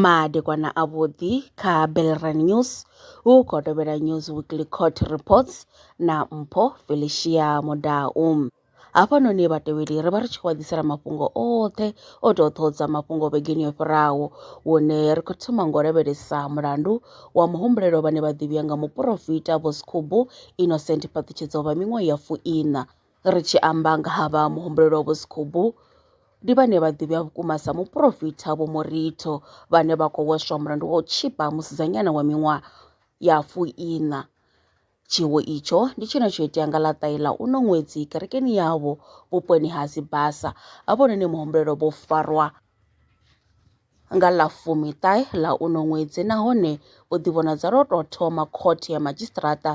Madekwana avhuḓi kha Belrand News hu khou tevhela News Weekly Court Reports na Mpho Felicia Mudau. Hafhanoni vhatevheli ri vha ri tshi khou ḓisela mafhungo oṱhe o tou ṱhodza mafhungo vhegeni yo fhiraho hune ri khou thoma ngo lavhelesa mulandu wa muhumbulelo vhane vha ḓivhiwa nga muporofita Vho Sikhubu Innocent Phaṱhutshedzo vha miṅwaha ya fuiṋa. Ri tshi amba nga ha vha muhumbulelo Vho Sikhubu ndi vhane vha ḓivhiwa vhukuma sa muporofita Vho Moritho vhane vha khou hweswa mulandu wa u tshipa musidzanyana wa miṅwaha ya fuiṋa. Tshiwo itsho ndi tshine tsho itea nga ḽa ṱaila uno ṅwedzi kerekeni yavho vhuponi ha Sibasa, havhononi muhumbulelo vho farwa nga ḽa fumi ṱahe ḽa uno ṅwedzi nahone u ḓivhonadza lwo tou thoma khothe ya madzhisiṱiraṱa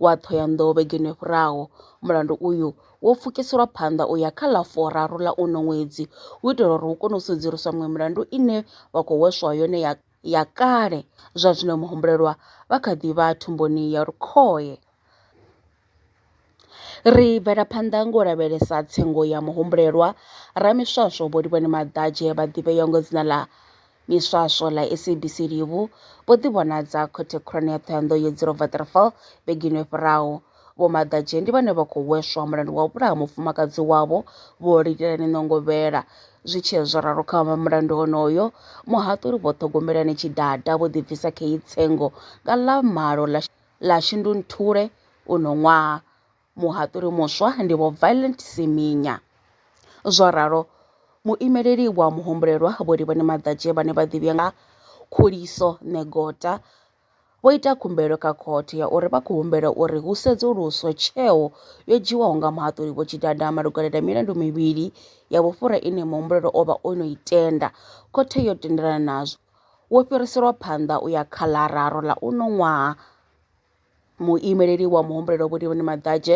wa Thohoyandou vhegeni yo fhiraho. Mulandu uyu wo pfukiselwa phanḓa u ya kha ḽa furaru ḽa uno ṅwedzi u itela uri hu kone u sedzuluswa miṅwe milandu ine vha khou hweswa yone ya ya kale zwa zwino muhumbulelwa vha kha ḓi vha thumbuni ya lukhohe. Ri bvela phanḓa ngo lavhelesa tsengo ya muhumbulelwa ramiswaswo vho Livhoni Maḓadzhe vha ḓivheaho nga dzina ḽa miswaswo ḽa SABC Livhu vho ḓi vhonadza khothe khulwane ya Ṱhohoyanḓou ya Dzilova Waterfall vhegeni yo fhiraho Vho Maḓadzhe ndi vhane vha khou hweswa mulandu wa u vhulaha mufumakadzi wavho Vho Likelani Nongovhela. Zwi tshee zwo ralo kha mulandu onoyo, muhaṱuli Vho Ṱhogomelani Tshidada vho ḓibvisa khei tsengo nga ḽa malo ḽa ḽa Shundunthule uno ṅwaha. Muhaṱuli muswa ndi Vho Violent Siminya. Zwo ralo, muimeleli wa muhumbulelwa Vho Livhani Maḓadzhe vhane vha ḓivhiwa nga Khuliso Negota, vho ita khumbelo kha khothe ya uri vha khou humbela uri hu sedzuluswe tsheo yo dzhiwaho nga muhaṱuli Vho Tshidada malugana na milandu mivhili ya vhufhura ine muhumbulelo o vha o no i tenda. Khothe yo tendelana nazwo. Wo fhiriselwa phanḓa u ya kha ḽa raru ḽa uno ṅwaha. Muimeleli wa muhumbulelo Vhulivhani Maḓadzhe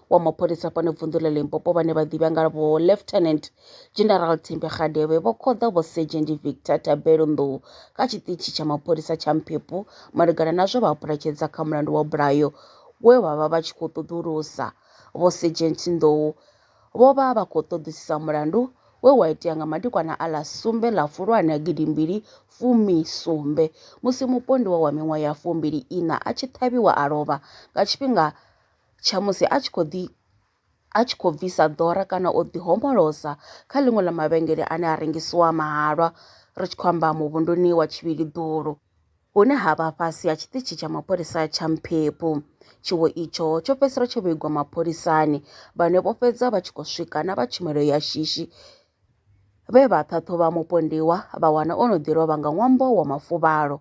wa mapholisa fhano vunḓu ḽa limpopo vhane vha ḓivha nga vho lieutenant general thembe kgadebe vho khoḓa vho sergeant victor tabelo nḓou kha tshiṱitshi tsha mapholisa tsha mphepu malugana na zwe vha puletshedza kha mulandu wa bulayo we vha vha vha tshi khou ṱoḓulusa vho sergeant nḓou vho vha vha khou ṱoḓisisa mulandu we wa itea nga madekwana a ḽa sumbe ḽa fulwane a gidimbili fumi sumbe musi mupondiwa wa miṅwaha ya fumbili ina a tshi ṱhavhiwa a lovha nga tshifhinga tsha musi a tshi khou ḓi a tshi khou bvisa ḓora kana o ḓi homolosa kha ḽiṅwe ḽa mavhengele ane a rengisiwa mahalwa ri tshi khou amba muvhunduni wa tshivhili ḓulu hune ha vha fhasi ha tshiṱitshi tsha mapholisa tsha mphephu tshiwo itsho tsho fhedzisela tsho vhigwa mapholisani vhane vho fhedza vha tshi khou swika na vha tshumelo ya shishi vhe vha ṱhaṱhuvha mupondiwa vha wana o no ḓi lovha nga ṅwambo wa mafuvhalo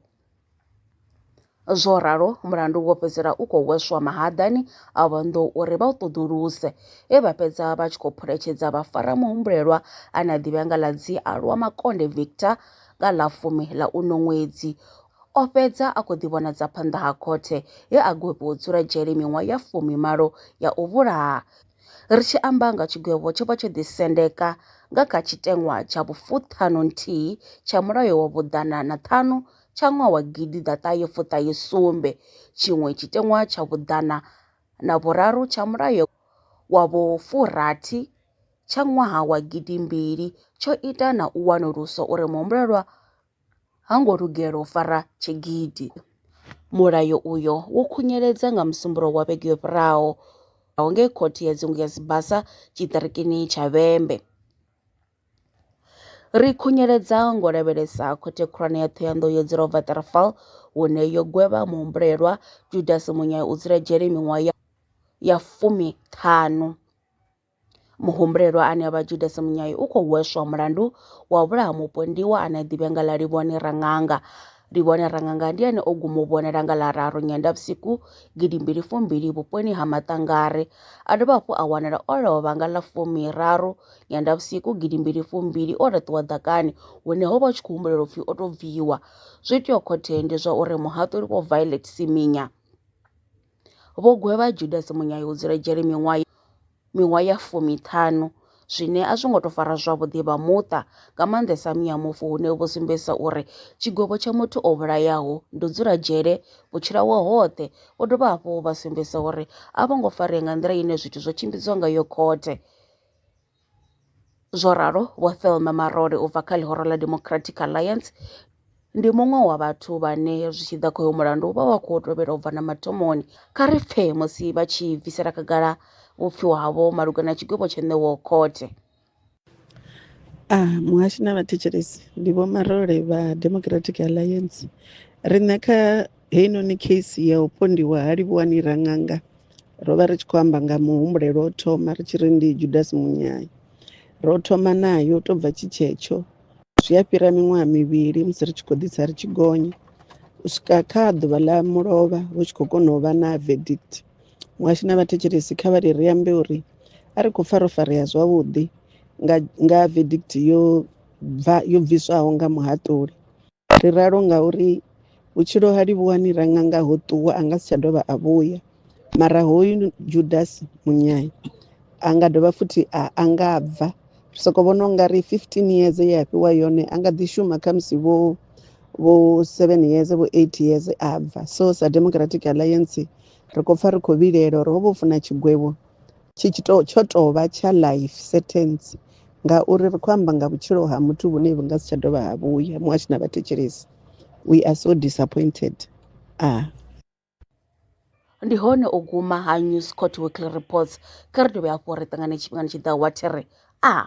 Zwo ralo, mulandu wo fhedzisela u khou hweswa mahaḓani a vhonḓou uri vha u ṱoḓuluse, he vha fhedza vha tshi khou phuletshedza vhafaramihumbulelwa ane a ḓivhea nga ḽa Dzialwa Makonde Victor nga ḽa fumi ḽa uno ṅwedzi. O fhedza a khou ḓivhonadza phanḓa ha khothe he a gwevhiwa u dzula dzhele miṅwaha ya fumi malo ya u vhulaha, Ri tshi amba nga tshigwevho tsho vha tsho ḓisendeka nga kha tshiteṅwa tsha vhufuṱhanu nthihi tsha mulayo wa vhuḓana na ṱhanu tsha ṅwaha wa gidi ḓaṱahe fuṱahe sumbe, tshiṅwe tshiteṅwa tsha vhuḓana na vhuraru tsha mulayo wa vhufurathi tsha ṅwaha wa gidi mbili tsho ita na u wanulusa uri muhumbulelwa ha ngo lugela u fara tshigidi. Mulayo uyo wo khunyeledza nga Musumbuluwo wa vhege yo fhiraho ngei Khothe ya Dzingu ya Sibasa tshiṱirikini tsha Vhembe. Ri khunyeledza ngo lavhelesa Khothe Khulwane ya Thohoyanḓou yo dzulaho Waterval hune yo gwevha muhumbulelwa Judasi Munyai u dzula dzhele miṅwaha ya fumi ṱhanu. Muhumbulelwa ane a vha Judasi Munyai u khou hweswa mulandu wa u vhulaha mupondiwa ane a ḓivhea nga ḽa Livhone Raṅanga. Livhone Raṅanga ndi ane o guma u vhonala nga ḽa raru Nyendavhusiku gidi mbili fumbili vhuponi ha Maṱangare. A dovha hafhu a wanala o lovha nga ḽa fumi raru Nyendavhusiku gidi mbili fumbili o laṱiwa ḓakani hune ho vha hu tshi khou humbulela upfi o tou bviwa. Zwo iteaho khotheni ndi zwa uri muhaṱuli Vho Violet Siminya Vho gwevha Judasi munyayudzi lwa dzhele miṅwaha miṅwaha ya fumiṱhanu zwine a zwi ngo tou fara zwavhuḓi vha muṱa nga maanḓesa muya mufu hune vho sumbedzisa uri tshigwevho tsha muthu o vhulayaho ndo dzula dzhele vhutshilawao hoṱhe vho dovha hafhu vha sumbedzisa uri a vho ngo farea nga nḓila ine zwithu zwo tshimbidzwa ngayo khothe Zwo ralo, Vho Thelma Marole u bva kha ḽihoro ḽa Democratic Alliance ndi muṅwe wa vhathu vhane zwi tshi ḓa kha hoyo mulandu vha vha khou tovhela u bva na mathomoni. Kha ri pfe musi vha tshi bvisela khagala vhupfiwa havho malugana na tshigwevho tsho ṋewaho khothe. A muhashi na vhathetshelesi ndi Vho Marole vha Democratic Alliance. Riṋe kha heinoni case ya u pondiwa ha Livhuwani Raṅanga ro vha ri tshi khou amba nga muhumbulelo o thoma ri tshi ri ndi judasi munyai ro thoma nayo u tou bva tshi tshetsho zwi a fhira miṅwaha mivhili musi ri tshi khou ḓitsa ri tshi gonya u swika kha ḓuvha ḽa mulovha hu tshi khou kona u vha na verdict muhasho na vhathetshelesi kha vha ri ri ambe uri a ri khou pfa ro farea zwavhuḓi nga verdict yo bva yo bviswaho nga muhaṱuli Ri ralo ngauri vhutshilo ha livhuwa ni ra nga nga ho ṱuwa a nga si tsha dovha a vhuya. Mara hoyu Judasi munyai a nga dovha futhi a a nga bva. Ri soko vhona u nga ri 15 years ye a fhiwa yone a nga ḓi shuma khamusi vho vho 7 years vho 8 years a bva. So sa Democratic Alliance ri khou pfha ri khou vhilela uri ho vha u funa tshigwevho. tshi tshi to tsho tovha tsha life sentence ngauri ri khou amba nga vhutshilo ha muthu vhune vhu nga si tsha dovha ha vhuya muṅwe a tshi na vhathetshelesi we are so disappointed ah ndi hone u guma ha news court weekly reports kha ri dovhe hafhu ri ṱangane tshifhingani tshi ḓaho wa thiri a ah.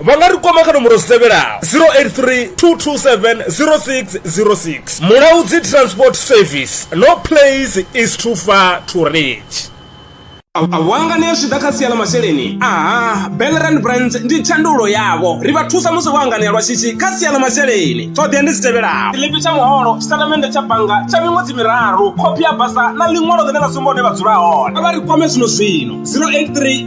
vha nga ri kwama kha nomboro dzi tevhelaho 0832270606 mulaudzi transport service no place is too far to reach wangane zwi ḓa kha sia ḽa masheleni aha belran brands ndi tshandulo yavho ri vha thusa musi vho anganea lwa shishi kha sia ḽa masheleni ṱhoḓea ndi dzi tevhelaho tshiḽipi tsha muholo tshitatamennde tsha bannga tsha miṅwedzi miraru khophi ya basa na ḽiṅwalo ḽine ḽa sumba hune vha dzula hone a vha ri kwame zwino zwino 083